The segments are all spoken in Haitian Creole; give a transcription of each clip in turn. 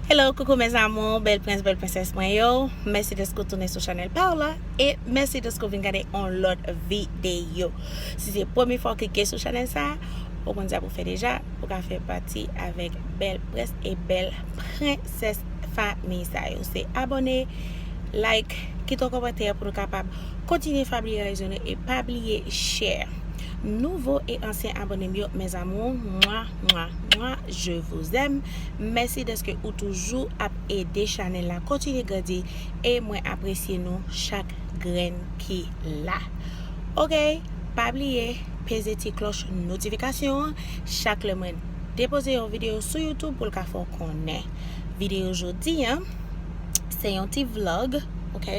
Hello coucou mes amours, bèl prens bèl prensès mwen yo Mèsi deske w tounen sou chanèl pa w la E mèsi deske w vin gade on lòt videyo Si se premye fwa w klike sou chanèl sa Ou konn sa pou w fè deja Pou w ka fè pati avèk bèl prens e bèl prensès famiy sa yo Se abone, like, kite yon kòmantè pou nou kapab kontinye familyarize nou E pa bliye share Nouvo e ansyen abone m yo mes amours Mwa mwa mwa je vous aime Mèsi dèske ou toujou ap ede chanèl la kontinye grandi e mwen apresye nou chak grenn ki la ok pa bliye peze ti klòch notifikasyon an chak lè mwen depoze yon videyo sou youtube pou l ka fè w konnen videyo jodi an se yon ti vlog ok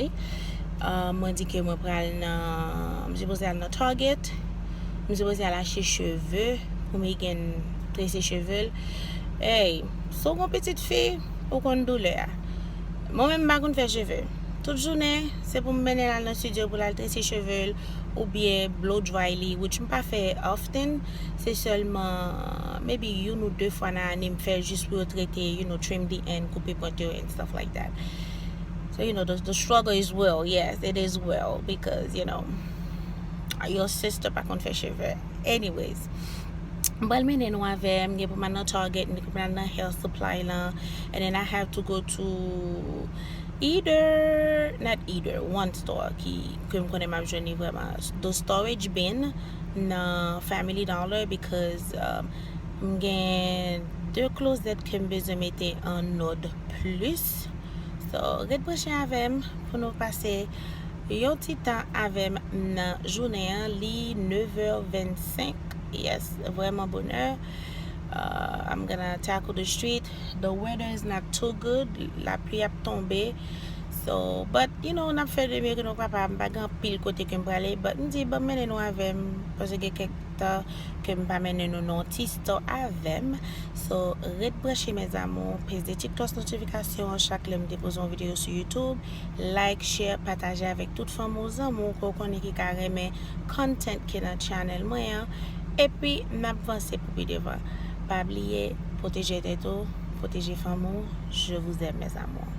mwen di ke mwen pral nan m sipoze al nan target m sipoze al achte cheve pou Megan trese cheve l. Ey, si w gon pitit fi, ou konn doulè a. Mwen menm m pa konn fè cheve. Tout jounen, se pou m mennen l al nan studio pou l al trese cheve l oubyen blow dry li which m pa fè often, se sèlman maybe youn ou 2 fwa nan ane m fè jis pou yo trete, you know, trim the end, koupe pwent yo and stuff like that. So, you know, the struggle is real, yes, it is real because, you know, your sister pa konn fè cheve. Anyways. M pral mennen nou avè m. M gen pou m al nan Target, m gen pou m al nan Hair Supply lan. And then I have to go to either, not either, one store ki, ke m konnen m ap jwenn li vrèman. The Storage Bin nan Family Dollar because m gen 2 klozèt ke m bezwen mete an òd plis. So, ret branche avè m pou nou pase. Yon ti tan avèm nan jounen an li 9h25 yes vrèman bonè uh, I'm gonna tackle the street the weather is not too good la pli ap tonbe so but you know nap fè de mieux que nou kapab m pa gen pil kote kem prale but m di banm mennen nou avèm paske gen kèk tan kem pa mennen nou nan ti store avèm so ret branche mes amours peze ti cloche notification chak lèm depoze yon video sou YouTube like, share, pataje avèk tout fanmi w zanmi w ke w konnen ki ka renmen content ki nan channel mwen an epi nap vanse pou pi devan pa bliye pwoteje tèt ou pwoteje fanmi w je vous aime mes amours.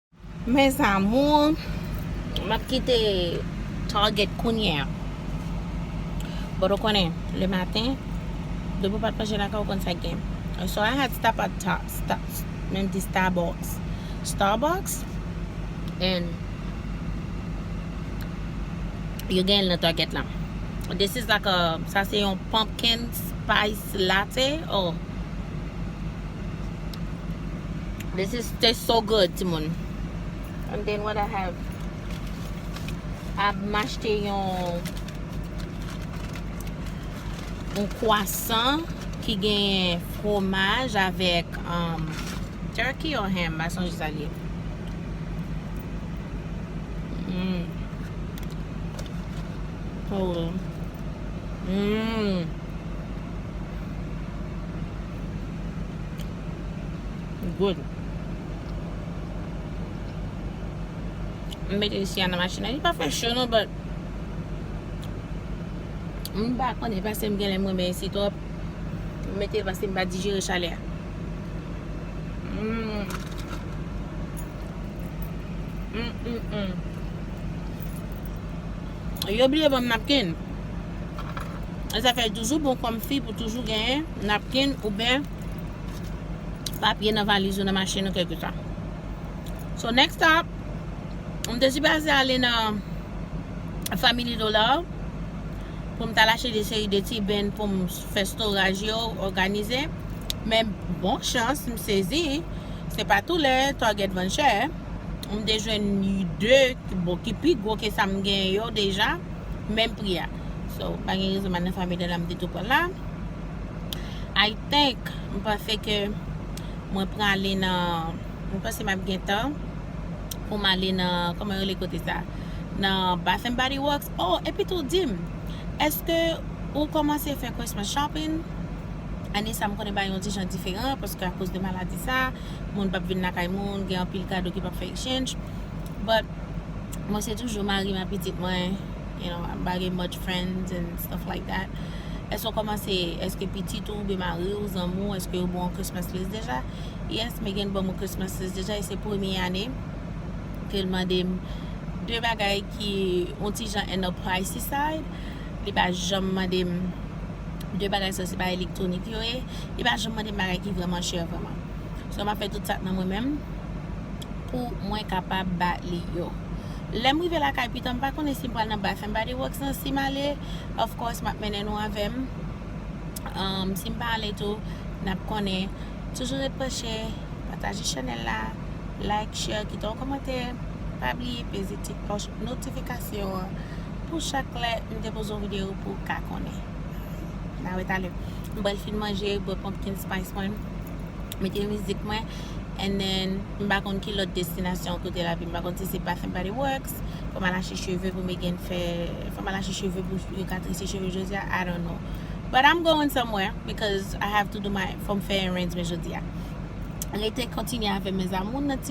Mes amours Map kite Target kounye a But ou konnen le maten Depi ou pat manje lakay ou ou konn sak gen So I had stop at Starbucks Menm di Starbucks Starbucks And Yo genyen l nan Target la This is like a Sa se yon pumpkin spice Ti latte oh this is taste so good ti moun and then what I have a machte yon yon kwasan ki gen fwomaj avèk um, turkey or ham ba sonje sa liye mmm oh mmm Good. M mete isi an nan machin nan. Li pa fè cho non, but m pa konn e paske m genlè m renmen isi twòp. M mete l paske m pa dijere chalè a. Mmm. Mmmmm. Yo bliye banm napkin. E sa fè l toujou bon kòm fi pou toujou genyen napkin ouben papye nan valiz ou nan machin ou kèlkeswa. So next stop, m te sipaze ale nan Family Dollar pou m tal achte de seri de ti bin pou m fè storaj yo, òganize. Men bon chans m sezi, se pa tou lè Target vann chè, m te jwenn 2. ki bon ki pi gwo ke sa m genyen yo deja menm pri a so pa gen rezon madan fanmi de la m te tou pran la I think m panse ke mwen prale nan m panse map gen tan pou m ale nan kòman yo rele kote sa nan bath and body works oh epi tou di m eske ou kòmanse fè christmas shopping ane sa m konnen bagay yon ti jan diferan paske akoz de maladi sa moun pap vin lakay moun gen anpil kado ki pap fè exchange But mwen se toujou marim ak pitit mwen you know I'm bagen much friends and stuff like that èske ou komanse èske pitit ou oubyen mariw zanmi w èske yo baw Christmas list deja yes Megan banm yon Christmas list deja e se premye ane ke l mandem de bagay ki yon ti jan an a pricey side li pa janm mandem de bagay sa yo se bagay elektronik yo ye li pa janm mandem bagay ki vreman chè vreman so map fè tout sa k nan mwen menm. pou mwen kapab ba li yo. Lè m rive lakay pitan m pa konnen si m pral nan bay fèm ba de wòks nan si m ale of course m ap mennen nou avè m um si m pa ale tou n ap konnen toujou ret branche pataje chanèl la like share kite yon kòmantè pa bliye peze ti klòch notifikasyon an pou chak lè m depoze yon videyo pou w ka konnen na wè talè m pral fin manje bwè pumpkin spice mwen. mete mizik mwen and then m pa konn ki lòt destinasyon kote l ap ye m pa konn si se Bath and Body Works fò m al achte cheve pou Megan fè fò m al achte cheve pou yo ka trese cheve jodi a I don't know but I'm going somewhere because I have to do my fò m fè errands mwen jodi a rete kontinye avè m mes amours nan ti.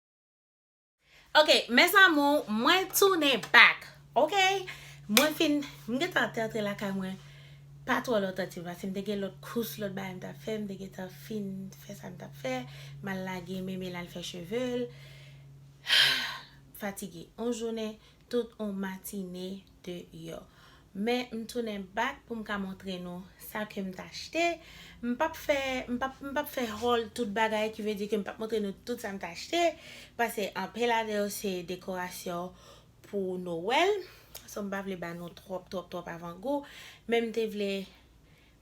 Ok mes amours mwen tounen back ok mwen fin m gentan te antre lakay mwen pa tro lontan ti pase m te gen lot kous lot bagay m tap fè m te gentan fin fè sa m tap fè m al lage meme l al fè cheve l fatige yon jounen Tout on matine de yo. Men m tounen back pou m ka montre nou sa ke m t achte. M pap fè, m pap, m pap fè haul tout bagay ki vle di ke m pap montre nou tout sa m t achte. Pase anpe ladan yo se dekorasyon pou Noel. So m pa vle ba nou twòp, twòp, twòp avan gou. Men m te vle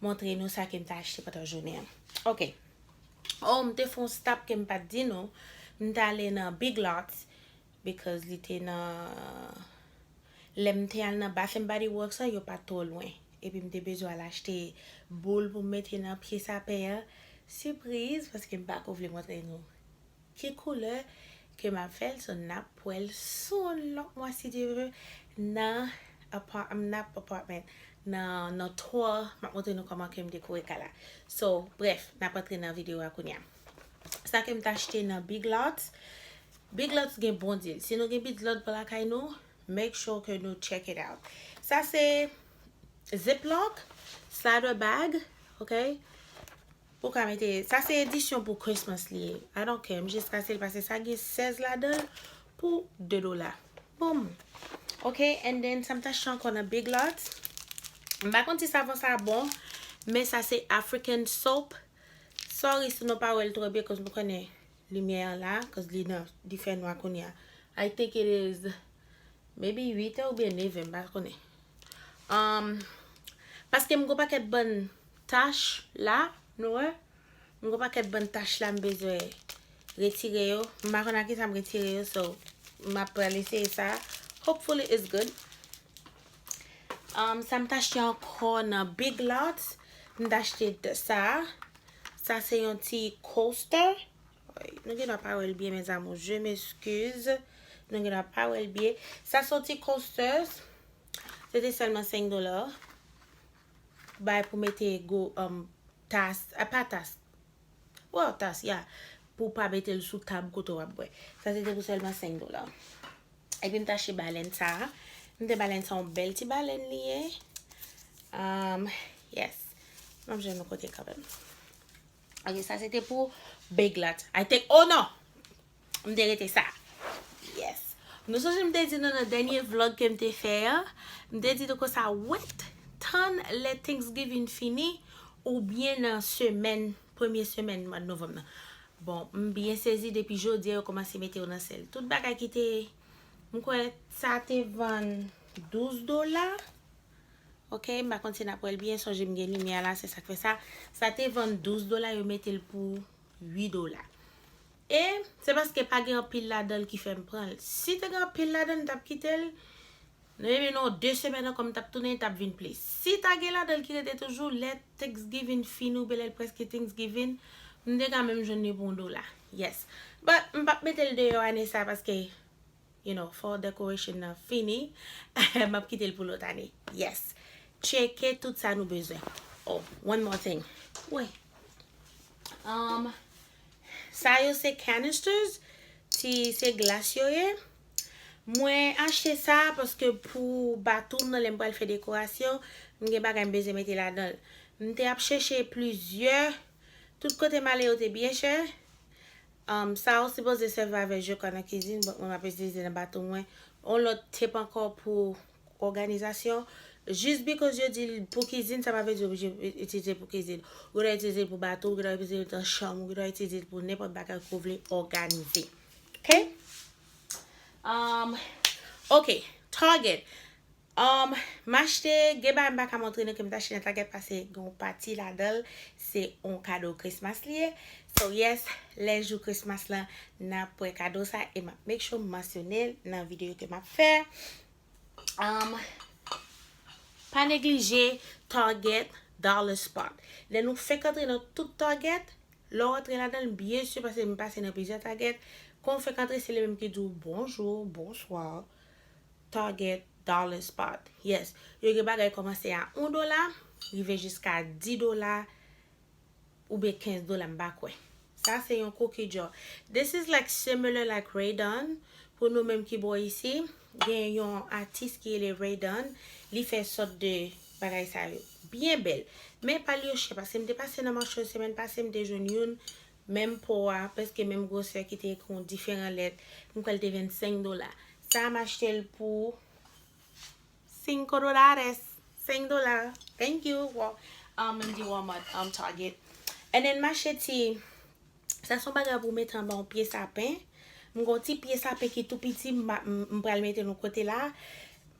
montre nou sa ke m t achte pandan jounen an. Ok. Oh m te fon stop ke m pat di nou. M t ale nan Big Lots Because li te nan Lè m te al nan Bath and Body Works la yo pat twò lwen epi m te bezwen al achte boul pou m mete nan pye sapen an Sipriz paske m pako vle montre nou ki koulè ke m ap fè l So n ap wè l sou yon lòt mwa si Dye ve nan Apartment nan Apartment nan 3 M ap montre nou kòman ke m dekore kay la So brèf n ap antre nan video a kounya. Sa kem t achte nan Big Lots. Big Lots gen bon deal. Si nou gen Big Lots pou lakay nou, make sure ke nou check it out. Sa se ziplock, slider bag, ok? Pou ka mete, sa se edisyon pou Christmas li ye. I don't care, m jis ka sel pase sa gen 16 ladan l pou 2 dola. Boom! Ok, and then sa m t achte ankò nan Big Lots. M pa konn si savon sa bon, men sa se African soap. Sorry si nou pa wèl trò byen cuz nou konnen limyè an la cuz li nan li fè nwa kounya I think it is maybe 8 è oubyen 9 è m pa konnen um paske m g'on pakèt bann tach la nou wè m g'on pakèt bann tach la m bezwen retire yo m pa konn ak kisa m retire yo so map pral eseye sa hopefully it's good. Sa m t achte ankò nan Big Lots, m t achte sa. Sa se yon ti coaster. Nou gendwa pa wè l byen mes amours, je m'excuse. Nou gendwa pa wè l byen. Sa se yon ti coaster. Se te sèlman 5 dola. Bay pou mete go tas, pa tas. Bon, tas ya. Pou pa mete l sou tab kote w ap bwè. Sa se te pou sèlman 5 dola. Epi m tache balèn sa a. M te balèn sa a yon bèl ti balèn li ye. Yes. M ap jwenn yon kote kanmenm. Ok, sa se te pou bèg la. I te, oh non! M te rete sa. Yes. Nou sonje m te di nou nan dènye vlog ke m te fè a, m te di nou konsa, wèt, tann lè Thanksgiving fini, oubyen nan semèn, premye semèn mwa Novanm nan. Bon m byen sezi depi jodia yo komanse mete yo nan sèl. Tout bagay ki te m kwè sa te vann 12 dola ok m pa konn si nap wèl byen sonje m gen limyè a la se sak fè sa sa te vann 12 dola yo mete l pou 8 dola e se paske pa gen anpil ladan l ki fè m pran l si te gen anpil ladan l m tap kite l Nou renmen nou an 2 semèn ankò m tap tounen tap vin plis. Si ta gen ladan l ki rete toujou lè Thanksgiving fini oubyen lèl preske Thanksgiving m te ka menm jwenn li pou yon dola. Yes. But m pap mete l deyò ane sa paske you know fall decoration nan fini map kite l pou lòt ane. Yes. Tcheke tout sa nou bezwen. Oh one more thing. Woy. Sa yo se canisters ti se glas yo ye. Mwen achte sa paske pou batou m nan lè m pral fè dekorasyon, m gen bagay m bezwen mete ladan l. M te ap chèche plizyè, tout kote m ale yo te byen chè. Sa ou sipoze sèvi avè je kwa nan kizin, bòt mwen m ap itilize nan batou mwen. On lòt tep ankò pou òganizasyon. Jis bikòz yo di l pou kizin, sa pa vle di ou oblije itilize l pou kizin. Ou gen dwa itilize l pou batou, ou gen dwa itilize l nan chanm, ou gen dwa itilize l pou nenpòt bagay ke ou vle òganize. Ok Umm Ok Target Umm M achte gen bagay m pa ka montre nou ke m te achte nan Target pase gen yon pati ladan l se yon kado Christmas li ye So yes lè jou Christmas lan n ap wè kado sa e m ap make sure m mansyone l nan videyo ke m ap fè Umm Pa neglije Target Dollar Spot Lè nou fenk antre nan tout Target Lè w antre ladan l byen si pase m pase nan plizyè target, kon w fèk antre se li menm ki di w bonjour, bonsoir, target, dollar spot. Yes, yo gen bagay kòmanse a 1 dola rive jiska 10 dola oubyen 15 dola m pa kwè. Sa se yon kou ki djò. This is like similar like Raydon pou nou menm ki bò isi, Gen yon atis ki rele Raydan li fè sòt de bagay sa yo byen bèl men pa l yo chè paske m te pase nan Marshall semèn pase m te jwenn youn menm po a prèske menm gwosè ki te ekri yon diferan lèt m kwè l te 25 dola sa a m achte l pou cinco dolares 5 dola thank you Wal, um m di Walmart um Target and then m achte ti. Sa son bagay pou mete anba yon pye sapen. M gen yon ti pye sapen ki tou piti m pral mete l yon kote la.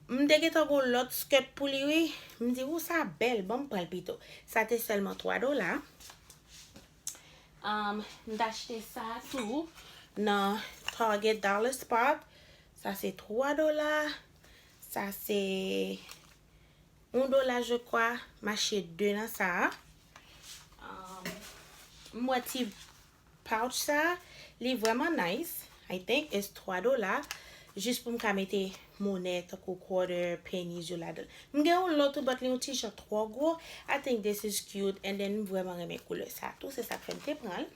M te gentan gen yon lòt skirt pou li wi. M di ou sa bèl bon m pral pito. Sa te sèlman 3 dola. M t achte sa tou nan Target Dollar Spot. Sa se 3 dola. Sa se. 1 dola je kwa mache 2 nan sa a m wè ti pouch sa a li vrèman nice I think it's 3 dola jis pou m ka mete monè tankou quarter pennies yo ladan l m gen yon lòt tou but li yon ti jan twò gwo I think this is cute and then m vrèman renmen koulè sa a tou se sa k fè m te pran l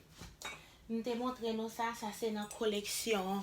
m te montre nou sa sa se nan koleksyon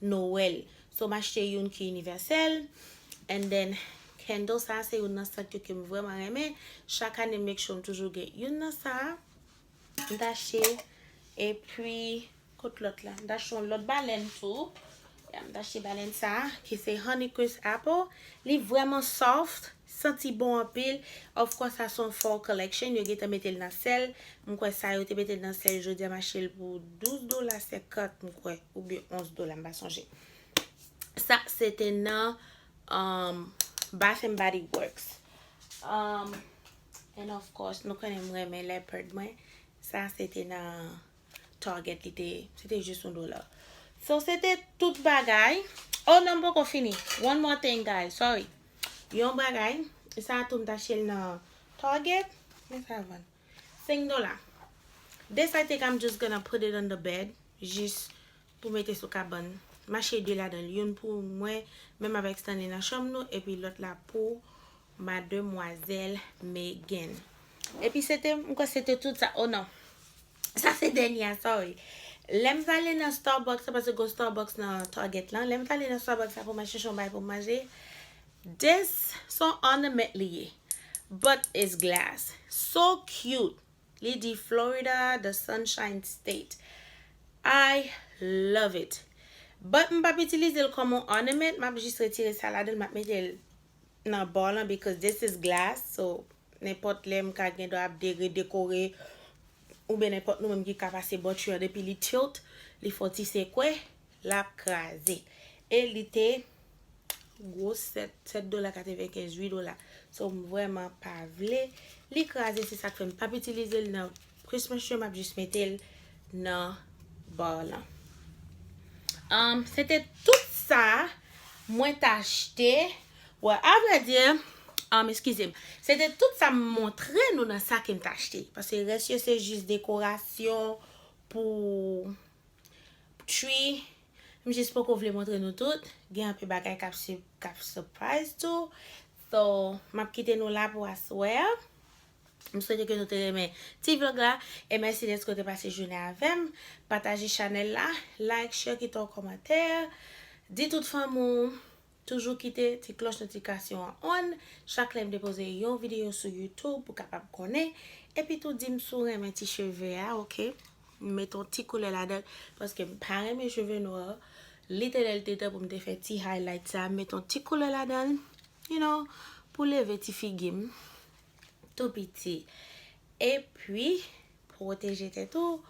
Noël. So m achte youn ki inivèsèl. And then candle sa se youn nan sant yo ke m vrèman renmen. Chak ane m make sure m toujou gen youn nan sa. M t achte e pi kot lòt la. M t achte yon lòt balèn tou. Ya m t achte balèn sa ki se honeycrisp apple. Li vrèman soft. Santi bon anpil, of course sa son fall collection yo gentan metel nan sel, m kwè sa yo te metel nan sel jodia m achel pou 12 dola 50 m kwè oubyen 11 dola m pa sonje. Sa se te nan um bath and body works um and of course nou konnen m renmen leopard mwen sa se te nan target li te se te jis yon dola so se te tout bagay oh nan m poko fini one more thing guys sorry. Yon bagay sa tou m t achte l nan Target men sa vann 5 dola This I think I'm just gonna put it on the bed jis pou mete sou kabann m achte 2 ladan l youn pou mwen menm avèk Stanley nan chanm nou epi lòt la pou mademwazèl Megan epi se te m kwè se te tout sa oh non. Sa se dènye a sorry. Lèm vale nan Starbucks la paske gon Starbucks nan Target lan, lèm vale nan Starbucks la pou mwen chèche yon bagay pou manje, this son ornament li ye but it's glass so cute li di Florida the sunshine state I love it but m pap itilize l kòm yon ornament map jis retire sa ladan l map mete l nan bar lan because this is glass so nenpòt lè m ka gendwa ap de redekore oubyen nenpòt nou menm ki ka pase bòtri an depi li tilt li fon ti sekwe lap kraze e li te gwo 7 7 dola 95 8 dola so m vrèman pa vle li kraze se sak fè m pap itilize l nan Pris mesye map jis metel nan bar lan. Humm se te tout sa mwen t achte bon a vrai dire humm eskize m se te tout sa m montre nou nan sa ke m t achte paske res yo se jis dekorasyon pou tree m jis poko vle montre nou tout gen anpe bagay kap kap surprise tou so map kite nou la pou aswè a. M swete ke nou te renmen ti vlog la e mèsi deske w te pase jounen avèm. Pataje chanèl la, like, share, kite yon kòmantè, di tout fanmi w, toujou kite ti klòch notifikasyon an on chak lè m depoze yon videyo sou youtube pou kapab konnen, epi tou di m si w renmen ti cheve a ok, m met yon ti koulè ladan l paske m pa renmen cheve nwa, li te lè li te tan pou m te fè ti highlight sa, m met yon ti koulè ladan l, you know, pou leve ti figi m. tou piti. E pwi, pwoteje tèt ou,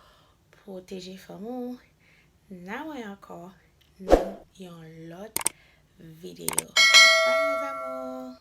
pwoteje fanm ou. Na wè ankò nan yon lòt videyo. Bye mes amours!